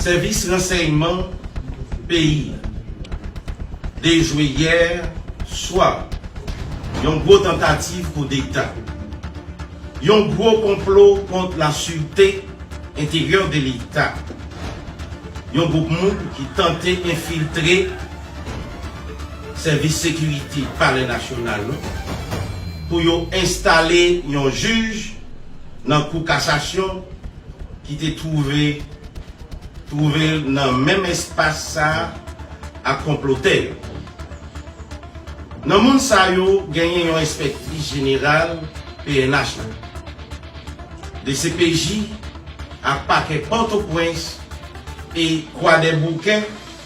Sèvis ransèyman peyi a dejwe yè swa yon gwo tantativ koudeta, yon gwo konplo kont la sirte enteryè de leta, yon gwoup moun ki tante enfiltre Sèvis sekirite palè nasyonal nou pou yo enstale yon jij nan kou kasasyon ki te twouve twouve l nan menm espas sa ak konplotè yo. Nan moun sa yo genyen yon enspektris jeneral pnh la, dcpj ak pakè Pòtoprens e Kwadèboukè,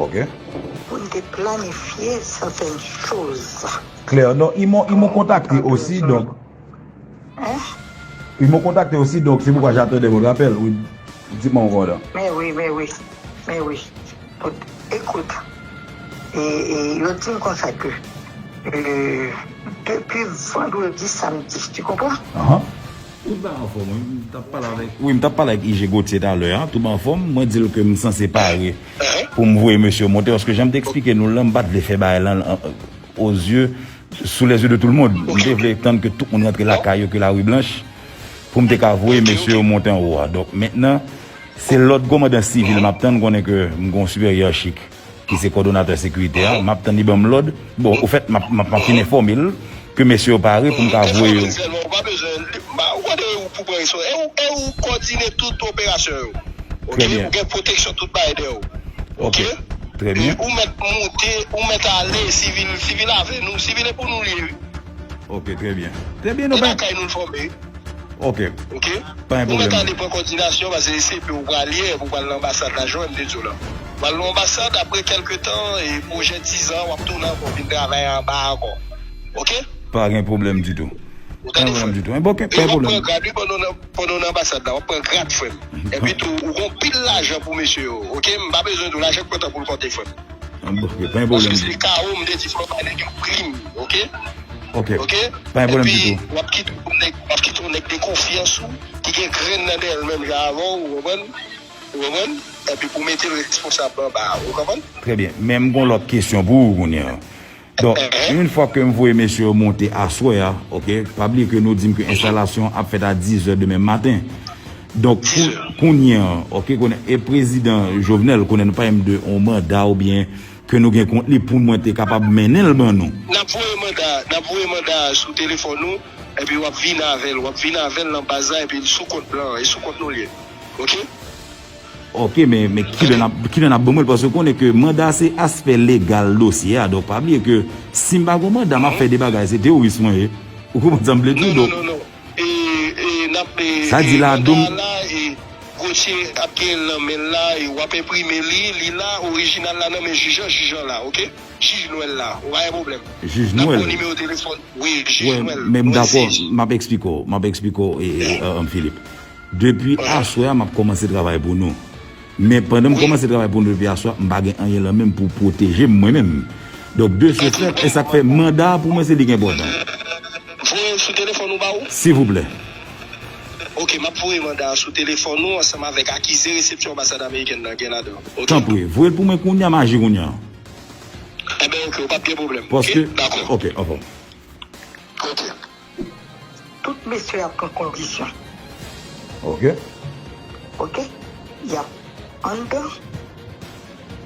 Pou n te planifye sèten choz. Klè, donk i mou, i mou kontakte osi, donk. Hein? I mou kontakte osi, donk se poukwa jatande vòt apèl, wi. Di mou konda. Mè wi, mè wi, mè wi. Bon, ekout, e, e, yo di m konsa ke, e, depi vandredi, samdi, ti konprann? Anhan. Tout bagay anfòm wi, m tap pale avèk. Wi m tap pale ak IG Gauthier talè a, tout bagay anfòm, mwen dil ke m sanse pare poum voye mesye yo monte paske janm te eksplike nou lan m pat vle fè bagay lan o zye sou lè zye de tou l mond, m te vle tann ke tout moun rantre lakay yo ke la ri blanch poum te ka voye mesye yo monte anwo a, donk mentnan se lòd kòmandan sivil map tann konnen ke m gon siperyè chik. ki se kòdonatè sekirite a, m ap tann li ban m lòd. Bon, ofèt, m ap fin enfòme l ke mesye yo pare pou m ka voye yo. Esè Sèlman, ou pa bezwen li. Ou konn e ou pou pran respons. E ou, e ou kòdine tout operasyon yo. Ok? Ou gen pwoteksyon tout bagay dèyè ou. Ok? E ou mèt moute, ou mèt ale, sivil, sivil avè nou. Sivil e pou nou li ye, wi. Ok, trè byen. Trè byen, nou pa. E lakay nou l fòme. Ok. Ok? Pa gen pwoblèm. Ou mèt ale pran kòdinasyon, pase e CP ou pral ye, epi ou pral nan anbasad la, jan m te di w la. W al nan anbasad apre kèlke tan e pwojè 10 an w ap tounen ankò vin travay anba a ankò ok. Pa gen pwoblèm ditou. Ou tande frè m? E w ap pran grad wi pandan w nan anbasad la w ap pran grad frè m. Epitou ou gen yon pil lajan pou mesye yo ok m pa bezwen di w lajan k pran tan pou l konte frè m. An bon ok pa gen pwoblèm ditou. Paske se kao m te di fò w bay nèg yo prim ok. Ok pa gen pwoblèm ditou. Epi w ap kite yon nèg w ap kite yon nèg de konfyans ou ki gen grenn nan dèyè l menm jan avè w ou konprann. Ou konprann? Epi pou mete l responsab anba a. Ou konprann? Trè byen. Men m gon lòt kesyon pou ou kounye a. Donk, yon fwa ke m voye mesye yo monte aswè a, ok, pa bliye ke nou di m ke enstalasyon an ap fèt a dizè demen maten. Donk, kounye a, ok, kounye a, e Prezidan Jovenel, kounye a nou pale m de yon manda oubyen ke nou gen kont li pou mwen te kapab mennen l ban nou. N ap voye manda a, n ap voye manda a sou telefòn ou, epi w ap vin avè l. W ap vin avè l nan baz la epi l sou kont blan an. E sou kont nou l ye. Ok. Ok men men kilè nap kilè nap ban mwen l paske konnen ke manda se aspè legal dosye a donk pa bliye ke si m pa gon manda map fè de bagay se teworis mwen ye ou konprann sa m vle di w donk sa di la dom jij nwèl wè men m dakò map esplike w map esplike w Philippe Depi aswè a map komanse travay pou nou. Men pandan m komanse travay pou nou depi aswè a, m pa gen anyen lan menm pou pwoteje m mwen menm. Donk de se fèt, e sak fè manda a pou mwen se li ki enpòtan. Voye l sou telefòn ou ba ou? Sivouplè. Ok, map voye manda a sou telefòn ou ansanm avèk akize resepsyon anbasad amerikèn nan gen ladan. Ok. Tanpri, voye l pou mwen kounya, m aji kounya. Enben ok, ou pap gen pwoblèm. Paske, ok, anfòm. Ok. Tout mesye ap pran kondisyon. Ok. Ok. Yap anndan.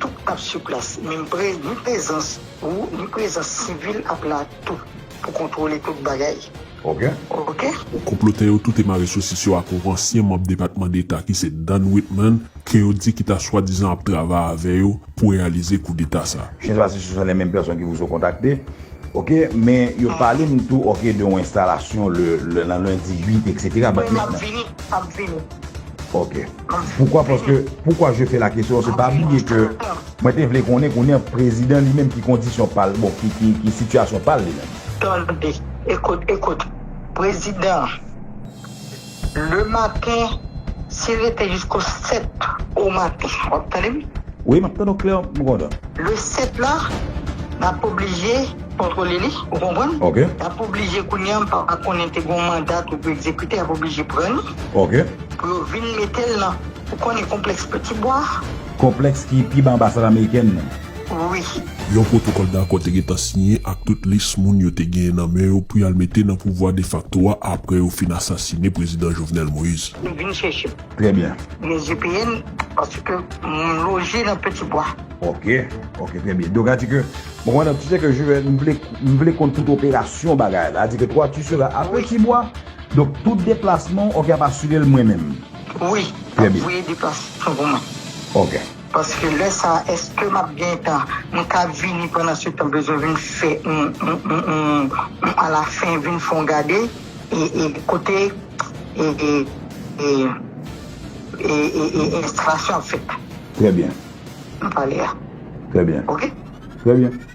Tout ap su plas. Men m pre, ni prezans ou, ni prezans sivil ap la tou pou kontwole tout bagay. Ok. Ok. Konplotè yo toute mare sosis yo ak yon ansyen manb Depatman Deta ki se Dan Whitman ke yo di ki ta swadizan ap travay avè yo pou reyalize koudeta sa. Chèche pase sou san lè menm pèsòn ki pou sou kontakte. Ok men yo pale m tou ok de yon enstalasyon le nan lundi 8 etc. Mwen m ap vini m ap vini. Ok poukwa paske poukwa je fe la kesyon paske pa bliye ke mwen te vle konnen kounye an prezidan li menm ki kondisyon pal bon ki sitiyasyon pal li menm. Tande ekout ekout prezidan. Le matin si rete jisko 7 au matin wap tande m. Wi map tande w klè m kontan. Le 7 la nap oblije kontrole li ou konprann nap oblije kounya m pa konnen te gon manda tou pou ekzekite yap oblije pran li pou yo vin metel nan ou konnen konplèks peti bwa. Konplèks ki pi ba anbasad amerikèn nan. wi. Yon pwotokòl dakò te gentan siyen ak tout lis moun yo te genyen nan men yo pou y al mete nan pouvwa defakto a apre yo fin asasine Prezidan Jovenel Moïse. Nou vin chèche. Trè byen. Mezi peye l paske mwen loje nan Peti Bwa. Ok, ok, trè byen. Doga di ke, bon madanm, tu sais que je vais, m vle, m vle konn tout operasyon bagay la. Di ke toi tu seras a Peti Bwa, donk tout deplasman w, ok, y ap asire l mwen menm. Wi, y ap voye deplasman pou mwen. Ok. Paske lè sa eske map gentan mka vini pandan se tan bezwen vin fè yon a la fin vin fon gade e kote e enstalasyon ap fèt. Trè byen. Nou pale a. Trè byen. Ok. Trè byen.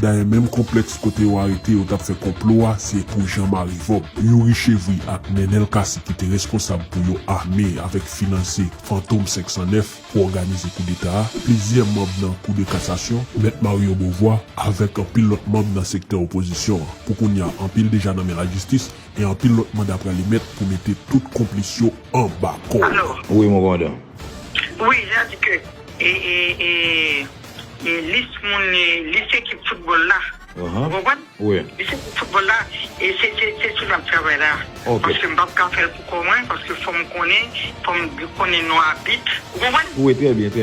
Dayè menm konplèks kote yo arete yo t ap fè konplo a se pou Jan Mari Vòb, Youri Chevri ak Nenel Cassy ki te reskonsab pou yo ame avèk finanse Fantom 509 pou òganize koudeta a, plizyè manb nan Kou de Kasasyon, Mèt Mario Beauvoir, avèk anpil lòt manb nan sektè opozisyon an. Pou kounya anpil deja nan men lajistis e anpil lòt manda pral emèt pou mete tout konplis yo anba kòd. Wi mon commandant. Wi, jan di ke e e e. e lis moun e lis ekip foutbòl la ou konprann lis ekip foutbòl la e se se sou nap travay la paske m pap ka fèl pou kò mwen paske fòm konnen fòm konnen non abit ou konprann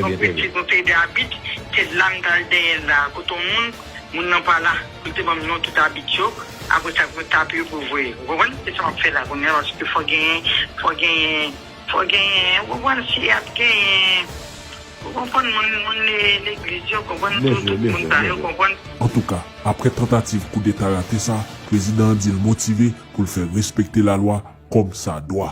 donk mwen di mwen pede abit se la m tal dèyèl la kote yon moun moun nan pa la pou l te banm non tout abit yo apresa pou mwen tape yo pou yo voye ou konprann se sa map fè la kounye a paske fò genyen fò genyen. Fò genyen ou konprann si ap genyen ou konprann moun moun legliz yo konprann tout tout moun sa yo konprann. Antouka, aprè tantativ koudeta rate sa, prezidan an di l motive pou l fè respekte lalwa kòm sa dwa.